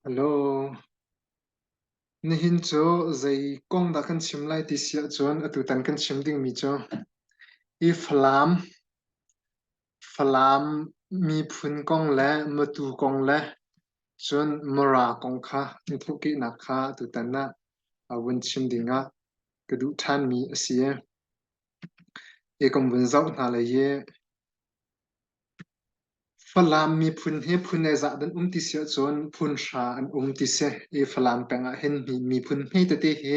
Hello. Nihin cu zei kong dah kan chim lai ti si ahcun atutan kan chim dingmi cu i Falam, Falam miphun kong le matu kong le cun Mara kong kha hnuthukihnak kha tutan ah a vun chim ding ah ka duh ṭhanmi a si. Hi kan vun zoh hna le hi Falam miphun hi phun le zah dan um ti si ahcun phun hra an um ti si. Hi Falam peng ah hin miphun hme tete hi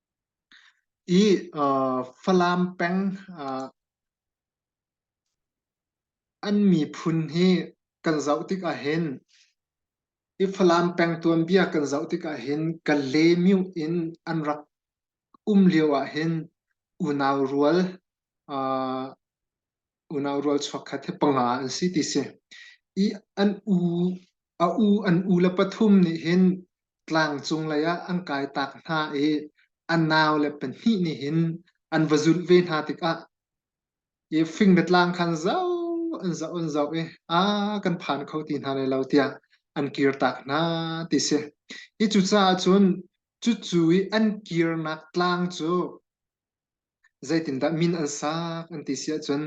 i Falam peng an miphun hi kan zoh tik ah hin i Falam peng tuanbia kan zoh tik ah hin Kale myuh in an rak um lio ah hin unau rual unau rualchuak kha he panga an si ti si. I an u a u an u le pathum nih hin tlang cung lei ah an kai tak hna i an nau le pahnih nih hin an va zulh ve hna tikah i fing le tlang khan zau an zau an zau i a kan phan kho ti hna lai lo tiah an kir tak hna ti si i cucaah cun cucu i an kirnak tlang cu Zeitindah min an sak an ti si ahcun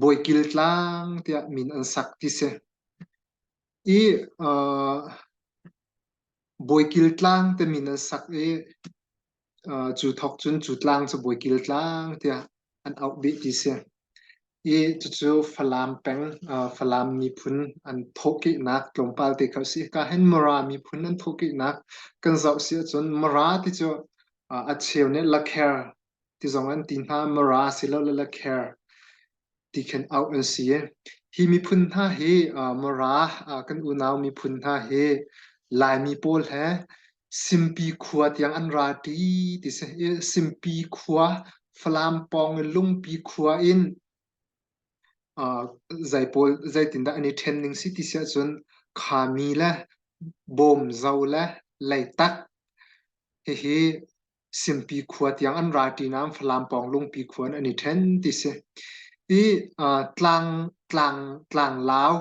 Bawikil Tlang tiah min an sak ti si. I uh, Bawikil Tlang te min an sak i uh, cu thok cun cu tlang cu Bawikil Tlang tiah an auh bih ti si. i cucu Falam peng Falam miphun an thawhkehnak tlawmpal te kha a si. Kahin Mara miphun an thawhkehnak kan zoh si ahcun Mara ti cu a cheu nih Lakher ti zong an ti hna. Mara silo le Lakher ti khin auh an si. Hi miphun hna hi Mara kan unau miphun hna hi Laimi pawl he Simpi khua tiang an rapi ti si. Simpi khua, Falam pawng i Lungpi khua in zei pawl zeitindah an i ṭhen ning si ti si ahcun Khami le Bawmzo le Leitak hihi Simpi khua tiang an ra ṭi nain Falam pawng Lungpi khua in an i ṭhen ti si. Hi uh, tlang tlang tlanglau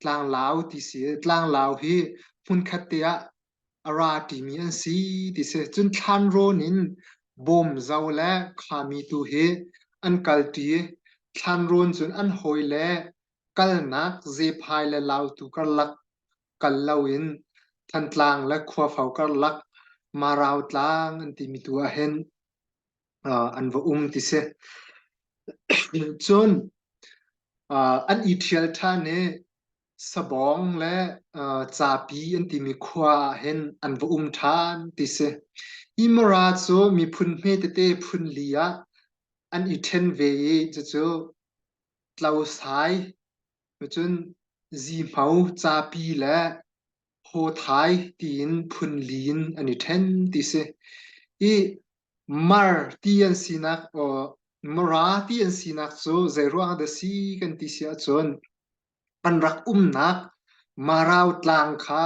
tlanglau ti si tlanglau hi hmunkhat te ah a ra ṭimi an si ti si cun thlan rawn in bawm zo le khuami tu hi an kalṭi thlan rawn cun an hawi le kalnak zephai le lau tu karlak Kal loin Thantlang le Khuafo karlak Marau tlang an timi tu ahhin an va um ti si. Cun an i ṭhial ṭhan i Sabawng le Capi an timi khua ahhin an va um ṭhan ti si. Hi Mara cu miphun hme tete phun li ah an i ṭhen ve i cucu Tlosai Cun zihmau zapi le hawthai tiin phunli in an i ṭhen ti si. I mar ti an sinak, mara ti an sinak cu zeiruangah dah si kan ti si ahcun an rak umnak Marau tlang kha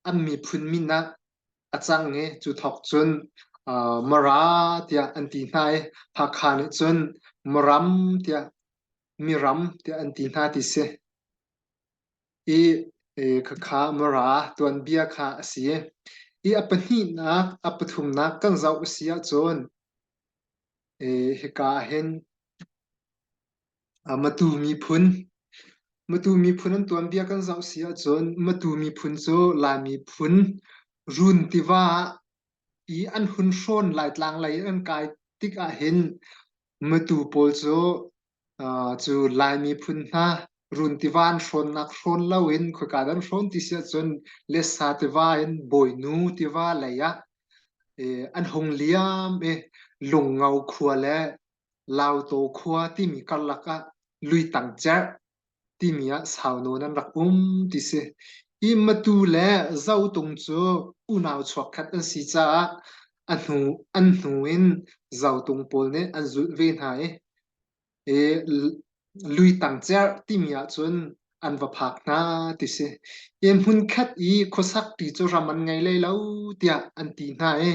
an miphun min ah a cang i cu thawk cun Mara tiah an ti hna i Hakha nih cun Maram tiah miram tiah an ti hna ti si. I khakha mara tuanbia kha a si. I a pahnihnak, a pathumnak kan zoh a si ahcun hika hin matu miphun matu miphun an tuanbia kan zoh si ahcun matu miphun cu lai miphun run tiva i an hun hrawn laitlang lei an kai tik ahhin Matu pawl cu uh, cu Lai miphun hna run tiva an hrawnnak hrawn lo in khoika dan hrawn ti si ahcun lesa tiva in bawinu tiva lei ah eh, an hung liam i Lungngo khua le Lauto khua timi karlak ah lui tang cerh timi ah sau nawn an rak um ti si. Hi matu le zotung cu unau chuakkhat an si caah a hnu, an hnu in zotung pawl nih an zulh ve hna i, i lui tang cerh timi ahcun an va phak hna ti si. Hi hmunkhat i khuasakti cu ram an ngei lai lo tiah an ti hna i,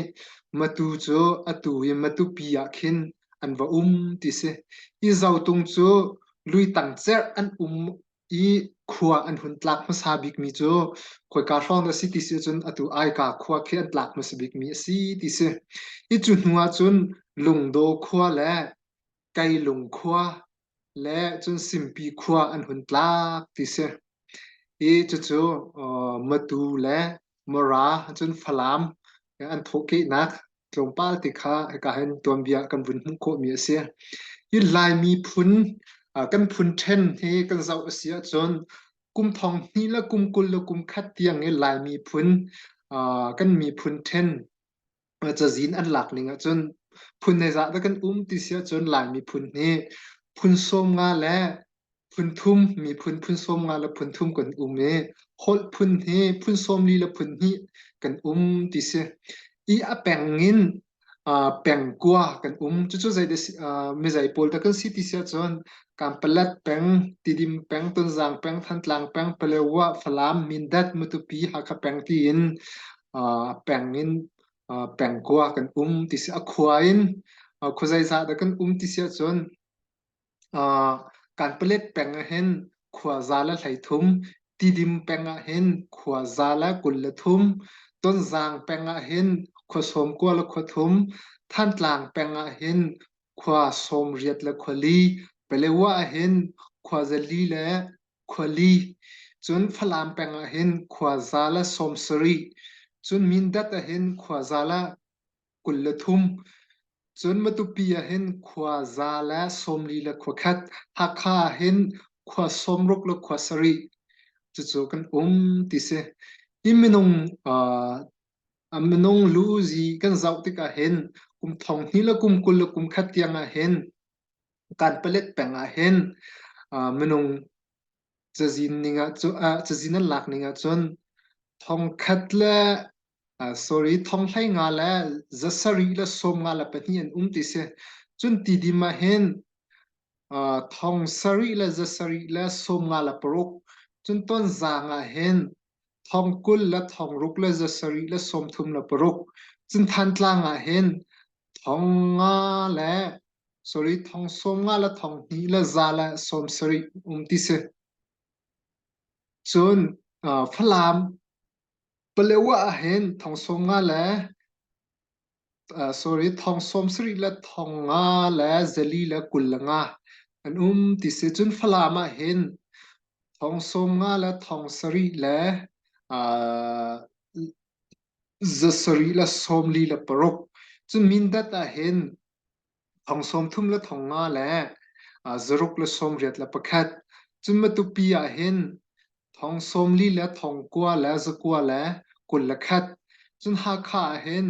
matu cu atu i matupi ah khin an va um ti si hi zotung cu luitang cer an um i khua an hun tlak hmasa bik mi cu khoika hrawng a si ti si cun atu aika khua khi an tlak hmasa bik mi a si ti si hi cu hnu ah cun lungdaw khua le kailung khua le cun Simpi khua an hun tlak ti si. Hi cucu Matu le Mara cun Falam an thawhkehnak tlawmpal te kha hika hin tuanbia kan vun hmuh khawhmi a si. Hi Laimi phun kan phun ṭhen hi kan zoh a si ahcun kum thong hnih le kum kul le kum khat tiang i Laimi phun kan miphun ṭhen cazin an lak ning ahcun phun neizah da kan um ti si ahcun Lai miphun nih phun sawm nga le phun thum miphun phun sawm nga le phun thum kan um i holh phun hi phun sawm li le phun hnih kan um ti si i a peng in pengkua kan um cucu zeite mizei pawl da kan si ti si ahcun kampalat peng tidim peng tunzang peng thantlang peng palewa falam mindat mutupi hakha peng tiin peng in pengkua kan um ti si a khua in khua zeizah dah kan um ti si ahcun kan palet peng ah hin khua za le hlei thum tidim peng ah hin khua za le kul le thum tonzang peng ah hin khua sawm kua le khua thum thantlang peng ah hin khua sawmriat le khuali Palaew ahhin khua zali le khuali cun Falam peng ahhin khua za le sawmsarih cun Mindat ahhin khua za le kul le thum cun Matupi ahhin khua za le sawmli le khua khat Hakha ahhin khua sawmruk le khua sarih cucu kan um ti si. Hi minung A minung luzi kan zoh tikah hin kum thong hnih le kum kul le kum khat tiang ah hin kan palet peng ah hin uh, minung cazin ning ah cu uh, cazin an lak ning ah cun thong khat le uh, sorry thong hlei nga le za sarih le sawm nga le pahnih an um ti si cun ti dim ah hin uh, thong sarih le za sarih le sawm nga le paruk cun ton zang ah hin thong kul le thong ruk le za sarih le sawmthum le paruk Cinthan tlang ah hin thong nga le sorry thong sawm nga le thong hnih le za le sawm sarih um ti si cun uh, Falam Palewa ah hin thong sawm nga le sorry, thong sawmsarih le thong nga le zeli le kul le nga an um ti si. Cun Falam ah hin thong sawm nga le thong sarih le uh, zasarih le sawmli le paruk. Cun Mindat ah hin thong sawmthum le thong nga le uh, zaruk le sawmriat le pakhat cun matupi ah hin thong sawmli le thong kua le zakua le kul le khat cun hakha ah hin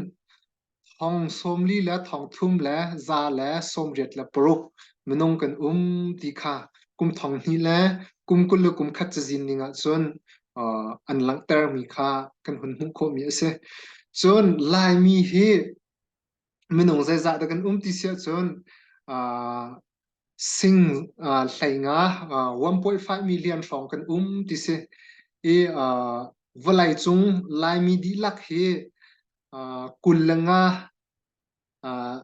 thong sawmli le thong thum le za le sawmriat le paruk minung kan um ti kha kum thong hnih le kum kul le kum khat cazin ning ah cun uh, an langhter mi kha kan hun hmuh khawh mi a si cun laimi hi minung zeizah dah kan um ti si ahcun uh, sing uh, hleinga uh, wampuai faimi lian hrawng kan um ti si i uh, vawlei cung laimi dihlak hi uh, kul le nga uh,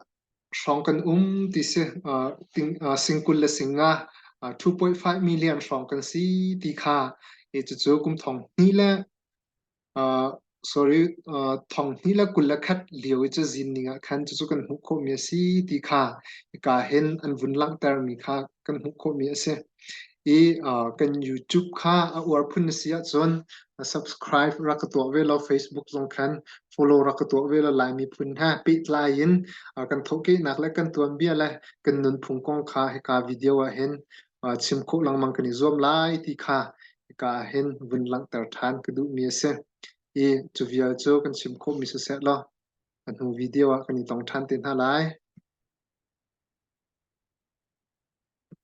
hrawng kan um ti si uh, ting, uh, singkul le singa uh, 2.5 million hrawng kan si ti kha e cucu kum thong ni le sorry, thong hnih le kul le khat lio i cazin ning ah khan cucu kan hmuh khawhmi a si ti kha hika hin an vun langhtermi kha kan hmuh khawhmi a si. I kan YouTube kha a uar phun na si ahcun subscribe rak ka tuah ve law Facebook zong khan follow rak ka tuah ve law Laimi phun he pehtlai in kan thawhkehnak le kan tuanbia le kan nunphung kong kha hika video ah hin uh, chim khawh lengmang kan i zuam lai ti kha ka hin vun langhter than ka duhmi a si i cu vial cu kan chim khawhmi siseh law a hnu video ah kan i tong than te hna lai